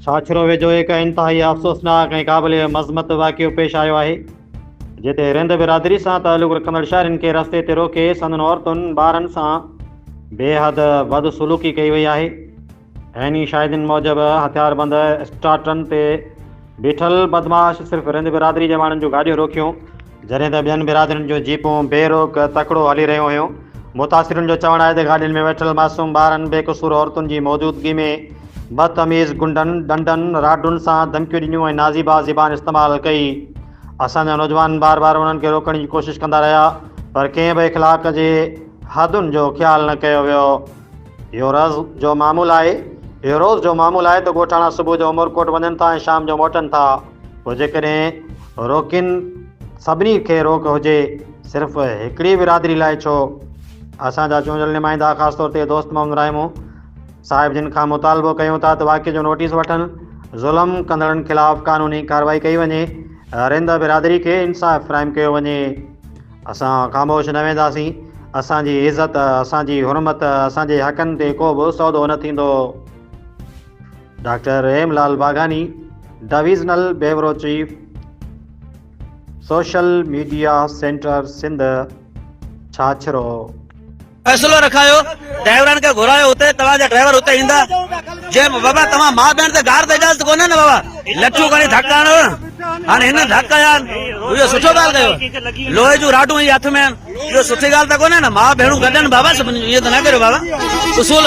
ڇاڇرو ويجهو هڪ انتهائي افسوسناڪ ۽ قابل مذمت واقعو پيش آيو آهي، جتي رند برادري سان تعلق رکندڙ شهرين کي رستي تي روڪي سندن عورتن ٻارن سان بيحد بدسلوڪي ڪئي وئي آهي. عيني شاهدين موجب هٿياربند اسٽاٽرن تي بيٺل بدمعاش صرف رند برادري جي ماڻهن جون گاڏيون روڪيون، جڏهن ته ٻين برادرين جون جيپون بي روڪ تڪڙو هلي رهيون هيون. متاثرين جو چوڻ آهي ته گاڏين ۾ ويٺل معصوم ٻارن بي قصور عورتن جي موجودگي ۾ بدتميز گنڊن، ڏنڊن، راڊن سان ڌمڪيون ڏنيون ۽ نازيبا زبان استعمال ڪئي. اسان جا نوجوان بار بار انهن کي روڪڻ جي ڪوشش ڪندا رهيا پر ڪنهن به اخلاق جي حدن جو خيال نه ڪيو ويو. اهو روز جو معمول آهي اهو روز جو معمول آهي ته ڳوٺاڻا صبح جو عمرڪوٽ وڃن ٿا ۽ شام جو موٽن ٿا. پوء جيڪڏهن روڪين سڀني کي روڪ هجي صرف هڪڙي برادري لاء ڇو؟ اسان جا چونڊيل نمائندا خاص طور تي دوست محمد رائمو صاحب جن کان مطالبو ڪيون ٿا ته واقعي جو نوٽيس وٺن، ظلم ڪندڙن خلاف قانوني ڪارروائي ڪئي وڃي، رند برادري کي انصاف فراهم ڪيو وڃي. اسان خاموش نه وينداسين، اسان جي عزت، اسان جي حرمت، اسان جي حقن تي ڪو به سودو نه ٿيندو. Doctor Rahim Lal Bagani divisional bureau chief social media centre Sindh Chachro فيصلو رکايو ڊرائيورن کي گهرايو اتي توهان جا ڊرائيور اتي ايندا جي بابا توهان ماء بهن تي گار تي اجازت ڪونهي نه بابا لٺيون کڻي ڌڪ هڻو هاڻي هن ڌڪ هيا اهو سٺو ڳالهه ڪيو لوهي جون راڊون هي هٿ ۾ اهو سٺي ڳالهه ته ڪونهي نه ماء بهنون گڏن بابا سڀني ائين ته نه ڪريو بابا اصول